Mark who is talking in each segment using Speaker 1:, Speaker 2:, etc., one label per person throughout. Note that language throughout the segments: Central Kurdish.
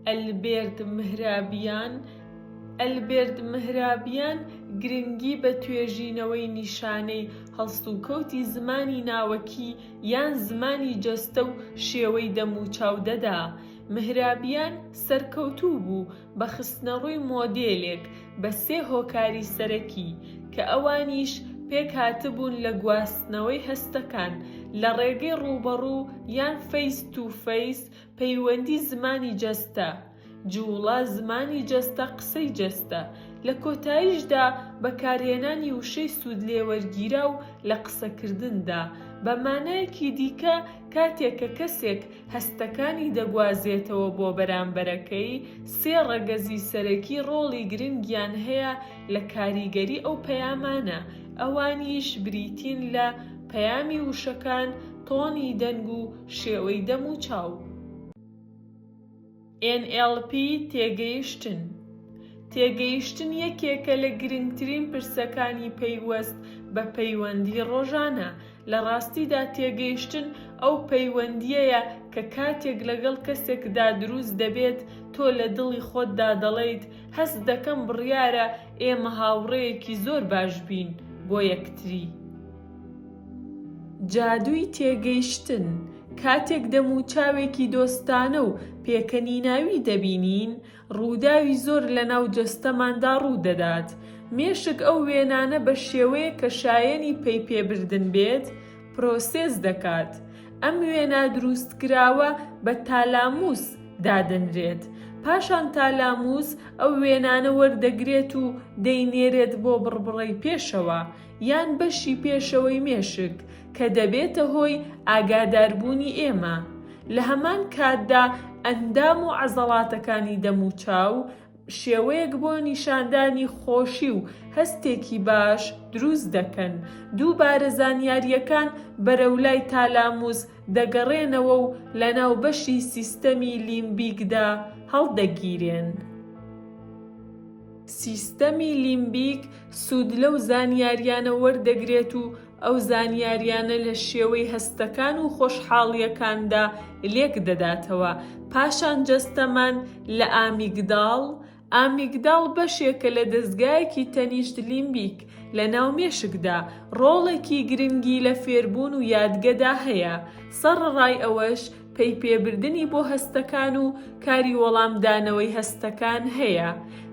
Speaker 1: ئەلبێرت مهرابیان ئەلبێرت مهرابیان گرنگی بە توێژینەوەی نیشانەی هەڵسوکەوتی زمانی ناوەکی یان زمانی جەستە و شێوەی دەموچاو دەدا مهرابیان سەرکەوتوو بوو بە خستنەڕووی مۆدێلێک بە سێ هۆکاری سەرەکی کە ئەوانیش پێکهاتبوون لە گواستنەوەی هەستەکان لە ڕێگەی ڕووبەڕوو یان فەیس تو فەیس، پەیوەندی زمانی جەستە، جووڵە، زمانی جەستە، قسەی جەستە، لە کۆتاییشدا بەکارهێنانی وشەی سوودلێوەرگیراو لە قسەکردندا، بە مانایەکی دیکە کاتێک کە کەسێک هەستەکانی دەگوازێتەوە بۆ بەرامبەرەکەی، سێ ڕەگەزی سەرەکی ڕۆڵی گرنگیان هەیە لە کاریگەری ئەو پەیامانە، ئەوانیش بریتین لە، پەیامی وشەکان، تۆنی دەنگ و شێوەی دەم و چاو. NLP تێگەیشتن تێگەیشتن یەکێکە لە گرنگترین پرسەکانی پەیوەست بە پەیوەندی ڕۆژانە، لە ڕاستیدا تێگەیشتن ئەو پەیوەندییەیە کە کاتێک لەگەڵ کەسێکدا دروست دەبێت تۆ لە دڵی خۆتدا دەڵێیت هەست دەکەم بڕیارە ئێمە هاوڕێیەکی زۆر باش بین بۆ یەکتری. جادووی تێگەیشتن، کاتێک دەموچاوێکی دۆستانە و پێکەنیناوی دەبینین، ڕووداوی زۆر لەناو جەستەماندا ڕوودەدات. مێشک ئەو وێنانە بە شێوەیەک کە شایەنی پەیپێبردن بێت، پرۆسێس دەکات. ئەم وێنا دروستکراوە بە تالاموس دادەنرێت. پاشان تالاموس ئەو وێنانە وەردەگرێت و دەینێرێت بۆ بڕبڕەی پێشەوە. یان بەشی پێشەوەی مێشک کە دەبێتە هۆی ئاگاداربوونی ئێمە، لە هەمان کاتدا ئەندام و عەزەڵاتەکانی دەموچاو شێوەیەک بۆ نیشاندانی خۆشی و هەستێکی باش دروست دەکەن، دووبارە زانیارییەکان بەرەو لای تالاموس دەگەڕێنەوە و لەناو بەشی سیستەمی لیمبیکدا هەڵدەگیرێن. سیستەمی لیمبیک سوود لەو زانیاریانە وەردەگرێت و ئەو زانیاریانە لە شێوەی هەستەکان و خۆشحاڵییەکاندا لێک دەداتەوە، پاشان جەستەمان لە ئامیگداڵ، ئامیگداڵ بەشێکە لە دەزگایەکی تەنیشت لیمبیک لە ناو مێشکدا، ڕۆڵێکی گرنگی لە فێربوون و یادگەدا هەیە، سەڕڕای ئەوەش، پەی پێبردنی بۆ هەستەکان و کاری وەڵامدانەوەی هەستەکان هەیە،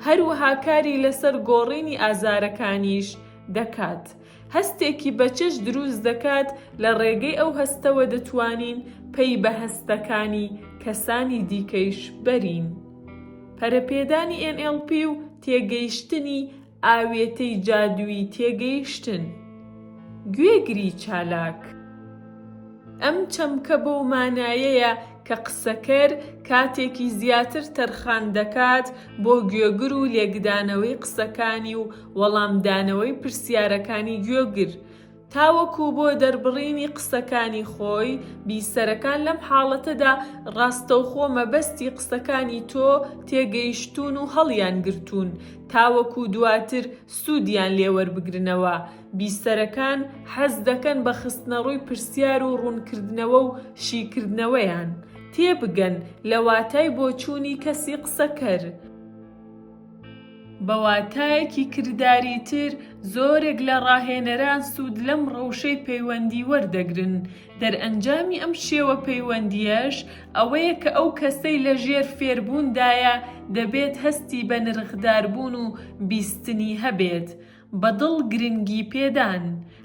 Speaker 1: هەروەها کاری لەسەر گۆڕینی ئازارەکانیش دەکات. هەستێکی بەچش دروست دەکات، لە ڕێگەی ئەو هەستەوە دەتوانین پەی بە هەستەکانی کەسانی دیکەیش بەرین. پەرەپێدانی NLP و تێگەیشتنی ئاوێتەی جادووی تێگەیشتن، گوێگری چالاک. ئەم چەمکە بەو مانایەیە کە قسەکەر کاتێکی زیاتر تەرخان دەکات بۆ گوێگر و لێکدانەوەی قسەکانی و وەڵامدانەوەی پرسیارەکانی گوێگر، تاوەکو بۆ دەربڕینی قسەکانی خۆی، بیسەرەکان لەم حاڵەتەدا ڕاستەوخۆ مەبەستی قسەکانی تۆ تێگەیشتوون و هەڵیانگرتوون، تاوەکو دواتر سوودیان لێ وەربگرنەوە، بیسەرەکان حەز دەکەن بە خستنەڕووی پرسیار و ڕوونکردنەوە و شیکردنەوەیان، تێبگەن لە واتای بۆچوونی کەسی قسەکەر. بە واتایەکی کرداریتر، زۆرێک لە ڕاهێنەران سوود لەم ڕەوشەی پەیوەندی وەردەگرن، دەرئەنجامی ئەم شێوە پەیوەندییەش ئەوەیە کە ئەو کەسەی لە ژێر فێربووندایە دەبێت هەستی بەنرخداربوون و بیستنی هەبێت، بە دڵ گرنگی پێدان،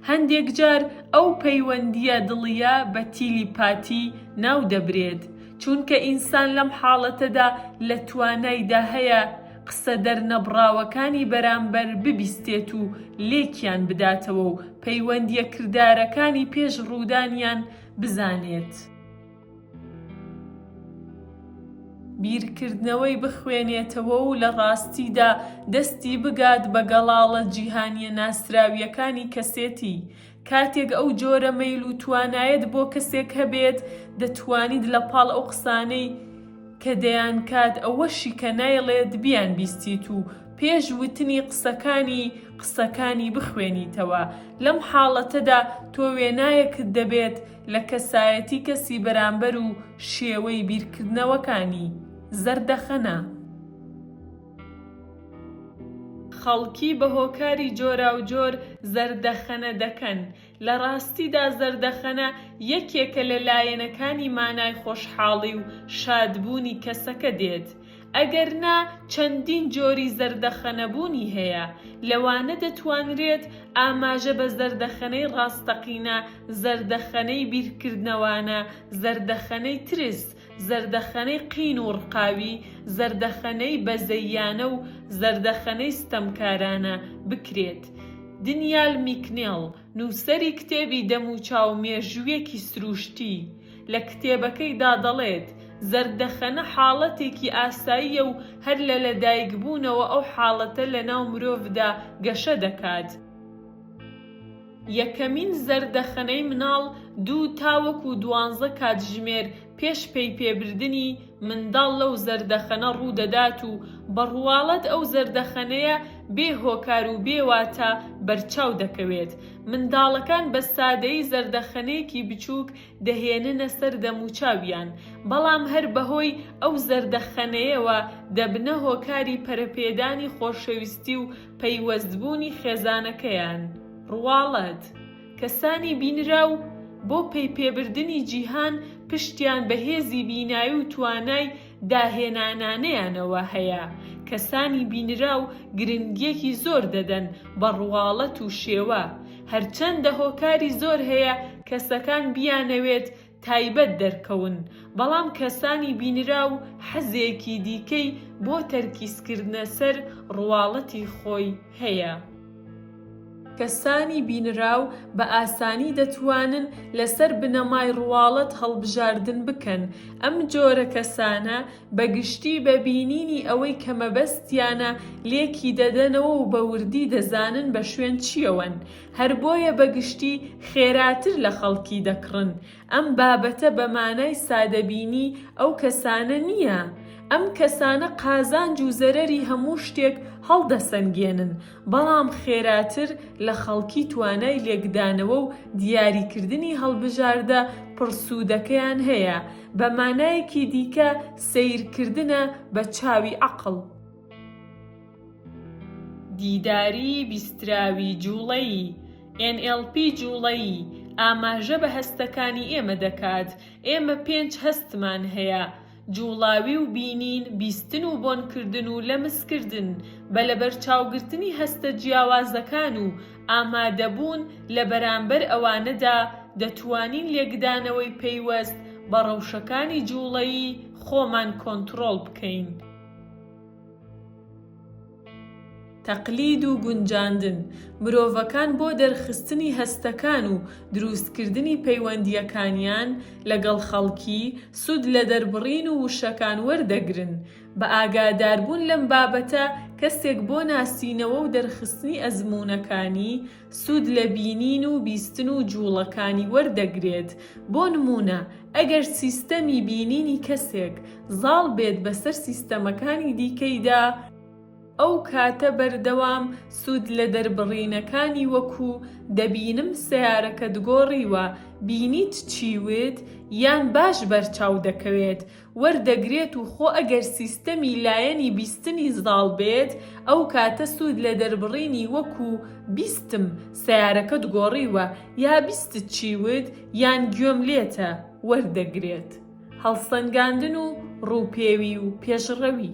Speaker 1: هەندێک جار ئەو پەیوەندییە دڵییە بە تیلیپاتی ناو دەبرێت، چونکە ئینسان لەم حاڵەتەدا لە توانایدا هەیە قسە دەرنەبڕاوەکانی بەرامبەر ببیستێت و لێکیان بداتەوە و پەیوەندییە کردارەکانی پێش ڕوودانیان بزانێت. بیرکردنەوەی بخوێنێتەوە و لە ڕاستیدا دەستی بگات بە گەڵاڵە جیهانییە ناسراوییەکانی کەسێتی. کاتێک ئەو جۆرە مەیل و توانایەت بۆ کەسێک هەبێت، دەتوانیت لە پاڵ ئەو قسانەی کە دەیانکات ئەوەشی کە نایڵێت بیانبیستیت و پێش وتنی قسەکانی قسەکانی بخوێنیتەوە. لەم حاڵەتەدا تۆ وێنایەکت دەبێت لە کەسایەتی کەسی بەرامبەر و شێوەی بیرکردنەوەکانی، زەردەخەنە. خەڵکی بە هۆکاری جۆراوجۆر زەردەخەنە دەکەن، لە ڕاستیدا زەردەخەنە یەکێکە لە لایەنەکانی مانای خۆشحاڵی و شادبوونی کەسەکە دێت، ئەگەر نا چەندین جۆری زەردەخەنەبوونی هەیە، لەوانە دەتوانرێت ئاماژە بە زەردەخەنەی ڕاستەقینە، زەردەخەنەی بیرکردنەوانە، زەردەخەنەی ترس، زەردەخەنەی قین و ڕقاوی، زەردەخەنەی بەزەییانە و زەردەخەنەی ستەمکارانە بکرێت. دنیال میکنێڵ. نووسەری کتێبی دەموچاو مێژوویەکی سرووشتی لە کتێبەکەیدا دەڵێت، زەردەخەنە حاڵەتێکی ئاساییە و هەر لە لەدایکبوونەوە ئەو حاڵەتە لەناو مرۆڤدا گەشە دەکات، یەکەمین زەردەخەنەی مناڵ دوو تاوەکو دوانزە کاتژمێر پێش پەی پێ بردنی منداڵ لەو زەردەخەنە ڕوو دەدات و بە ڕواڵەت ئەو زەردەخەنەیە بێ هۆکار و بێ واتا بەرچاو دەکەوێت. منداڵەکان بە سادەیی زەردەخەنەیەکی بچووک دەهێننە سەر دەموچاویان، بەڵام هەر بە هۆی ئەو زەردەخەنەیەوە دەبنە هۆکاری پەرەپێدانی خۆشەویستی و پەیوەستبوونی خێزانەکەیان. ڕواڵەت. کەسانی بینراو بۆ پەیپێبردنی جیهان پشتیان بە هێزی بینایی و توانای داهێنانانەیانەوە هەیە، کەسانی بینراو گرنگییەکی زۆر دەدەن بە ڕواڵەت و شێوە، هەرچەندە هۆکاری زۆر هەیە کەسەکان بیانەوێت تایبەت دەرکەون، بەڵام کەسانی بینراو حەزێکی دیکەی بۆ تەرکیزکردنە سەر ڕواڵەتی خۆی هەیە. کەسانی بینراو بە ئاسانی دەتوانن لەسەر بنەمای ڕواڵەت هەڵبژاردن بکەن، ئەم جۆرە کەسانە بە گشتی بە بینینی ئەوەی کە مەبەستیانە لێکی دەدەنەوە و بە وردی دەزانن بە شوێن چییەوەن، هەر بۆیە بە گشتی خێراتر لە خەڵکی دەکڕن، ئەم بابەتە بە مانای سادەبینی ئەو کەسانە نییە، ئەم کەسانە قازانج و زەرەری هەموو شتێک هەڵدەسەنگێنن، بەڵام خێراتر لە خەڵکی توانای لێکدانەوە و دیاریکردنی هەڵبژاردە پڕسوودەکەیان هەیە، بە مانایەکی دیکە سەیرکردنە بە چاوی عەقڵ. دیداری بیستراوی جوڵەیی، NLP جوڵەیی، ئاماژە بە هەستەکانی ئێمە دەکات، ئێمە پێنج هەستمان هەیە، جوڵاوی و بینین، بیستن و بۆنکردن و لەمسکردن، بە لەبەرچاوگرتنی هەستە جیاوازەکان و ئامادەبوون لە بەرامبەر ئەوانەدا دەتوانین لێکدانەوەی پەیوەست بە ڕەوشەکانی جوڵەیی خۆمان کۆنتڕۆڵ بکەین. تەقلید و گونجاندن، مرۆڤەکان بۆ دەرخستنی هەستەکان و دروستکردنی پەیوەندییەکانیان لەگەڵ خەڵکی، سوود لە دەربڕین و وشەکان وەردەگرن. بە ئاگاداربوون لەم بابەتە، کەسێک بۆ ناسینەوە و دەرخستنی ئەزموونەکانی، سوود لە بینین و بیستن و جووڵەکانی وەردەگرێت، بۆ نموونە ئەگەر سیستەمی بینینی کەسێک زاڵ بێت بەسەر سیستەمەکانی دیکەیدا، ئەو کاتە بەردەوام سوود لە دەربڕینەکانی وەکو، دەبینم سەیارەکەت گۆڕیوە، بینیت چی وت؟ یان باش بەرچاو دەکەوێت، وەردەگرێت و خۆ ئەگەر سیستەمی لایەنی بیستنی زاڵ بێت ئەو کاتە سوود لە دەربڕینی وەکو، بیستم سەیارەکەت گۆڕیوە، یا بیستت چی وت، یان گوێم لێتە، وەردەگرێت. هەڵسەنگاندن و ڕووپێوی و پێشڕەوی.